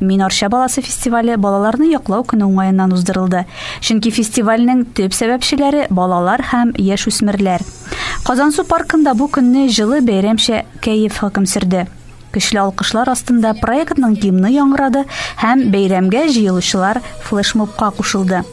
Мин Арча баласы фестивале балаларны яклау көне уңаеннан уздырылды. Чөнки фестивальнең төп сәбәпчеләре балалар һәм яшь үсмерләр. Казансу паркында бу көнне җылы бәйрәмчә кәеф хөкем сөрде. Көчле алкышлар астында проектның гимны яңгырады һәм бәйрәмгә җыелучылар флешмобка кушылды.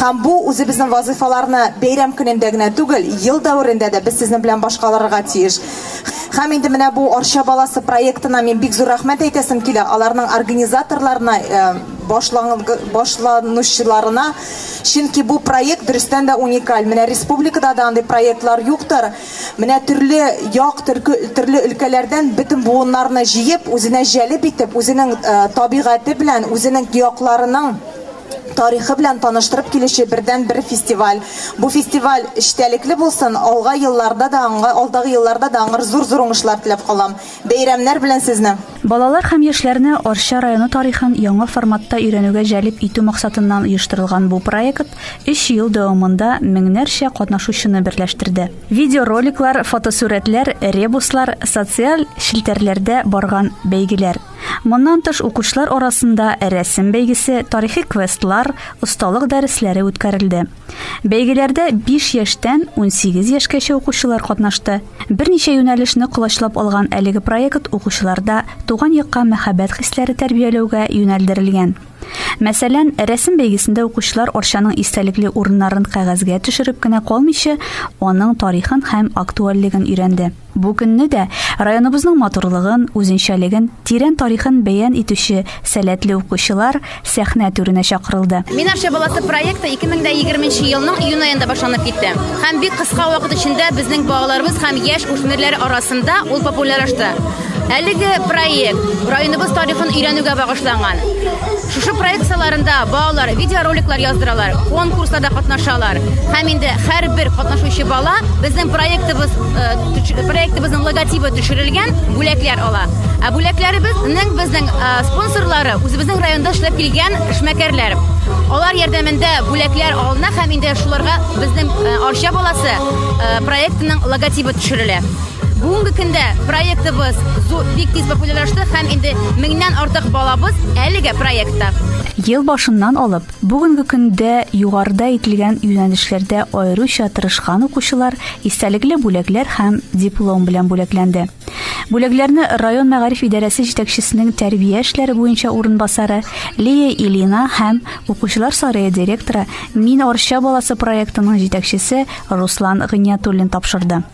Һәм бу, үзебезнең вазыйфаларны бәйрәм көнендә генә түгел, ел дәверендә дә без сезнең белән башкаларырга тиеш. Һәм инде менә бу Арча баласы проектына мин бик зур рәхмәт әйтәсем килә, аларның организаторларына, башланучыларына, чөнки бу проект дөрестән дә уникаль. Менә республикада да андый проектлар юктыр. Менә төрле як, төрле өлкәләрдән бөтен буыннарны җыеп, үзенә җәлеп итеп, үзенең табигате белән, үзенең якларының, тарихы белән таныштырып килүче бердәнбер фестиваль. Бу фестиваль эчтәлекле булсын, алга елларда да аңа, алдагы елларда да аңар зур-зур уңышлар теләп калам. Бәйрәмнәр белән сезне! Балалар һәм яшьләрне Арча районы тарихын яңа форматта өйрәнүгә җәлеп итү максатыннан оештырылган бу проект өч ел дәвамында меңнәрчә катнашучыны берләштерде. Видеороликлар, фотосурәтләр, ребуслар, социаль челтәрләрдә барган бәйгеләр. Моннан тыш укучылар арасында рәсем бәйгесе, тарихи квестлар, осталык дәресләре үткәрелде. Бәйгеләрдә 5 яшьтән 18 яшькәчә укучылар катнашты. Берничә юнәлешне колачлап алган әлеге проект укучыларда туган якка мәхәббәт хисләре тәрбияләүгә юнәлдерелгән. Мәсәлән, рәсем бәйгесендә укучылар Арчаның истәлекле урыннарын кәгазьгә төшереп кенә калмыйча, аның тарихын һәм актуальлеген өйрәнде. Бу көнне дә районыбызның матурлыгын, үзенчәлеген, тирән тарихын бәян итүче сәләтле укучылар сәхнә түренә чакырылды. Мин Арча баласы проекты 2020 нче елның июнь аенда башланып китте. Һәм бик кыска вакыт эчендә безнең балаларыбыз һәм яшь үсмерләр арасында ул популярашты. Әлеге проект районыбыз тарихын өйрәнүгә багышланган. Шушы проект саларында балалар видеороликлар яздыралар, конкурсларда катнашалар. Һәм инде һәрбер катнашучы бала безнең проектыбыз э, проектыбызның логотибы төшерелгән бүләкләр ала. Ә бүләкләребез нәкъ безнең э, спонсорлары, үзебезнең районда эшләп килгән эшмәкәрләр. Алар ярдәмендә бүләкләр алына һәм инде шуларга безнең э, Арча баласы проектының логотибы төшерелә. Бүгенге көндә проектыбыз бик тиз популярлашты һәм инде меңнән артык балабыз әлеге проектта. Ел башыннан алып, бүгенге көндә югарыда әйтелгән юнәлешләрдә аеруча тырышкан укучылар истәлекле бүләкләр һәм диплом белән бүләкләнде. Бүләкләрне район мәгариф идарәсе җитәкчесенең тәрбия эшләре буенча урынбасары Лия Илина һәм укучылар сарае директоры Мин Арча баласы проектының җитәкчесе Руслан Гыйниятуллин тапшырды.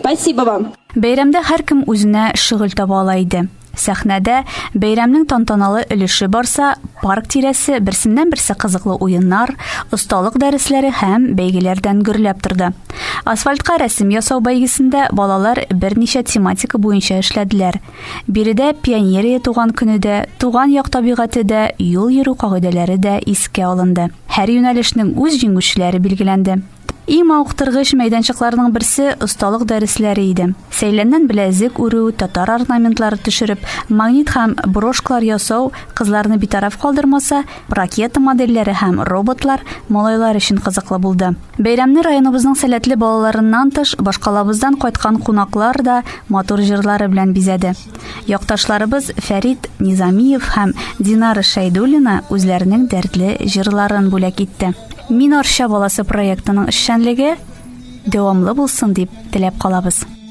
Спасибо вам! Бәйрәмдә һәркем үзенә шөгыль таба ала иде. Сәхнәдә, бәйрәмнең тантаналы өлеше барса, парк тирәсе берсеннән-берсе кызыклы уеннар, осталык дәресләре һәм бәйгеләрдән гөрләп торды. Асфальтка рәсем ясау бәйгесендә балалар берничә тематика буенча эшләделәр. Биредә пионерия туган көне дә, туган як табигате дә, юл йөрү кагыйдәләре дә искә алынды. Һәр юнәлешнең үз җиңүчеләре билгеләнде. Иң мавыктыргыч мәйданчыкларның берсе осталык дәресләре иде. Сәйләннән беләзек үрү, татар орнаментлары төшереп, магнит һәм брошкалар ясау кызларны битараф калдырмаса, ракета модельләре һәм роботлар малайлар өчен кызыклы булды. Бәйрәмне районыбызның сәләтле балаларыннан тыш, башкалабыздан кайткан кунаклар да матур җырлары белән бизәде. Якташларыбыз Фәрид Низамиев һәм Динара Шәйдуллина үзләренең дәртле җырларын бүләк итте. Мин Арча баласы проектының эшчәнлеге дәвамлы булсын дип теләп калабыз.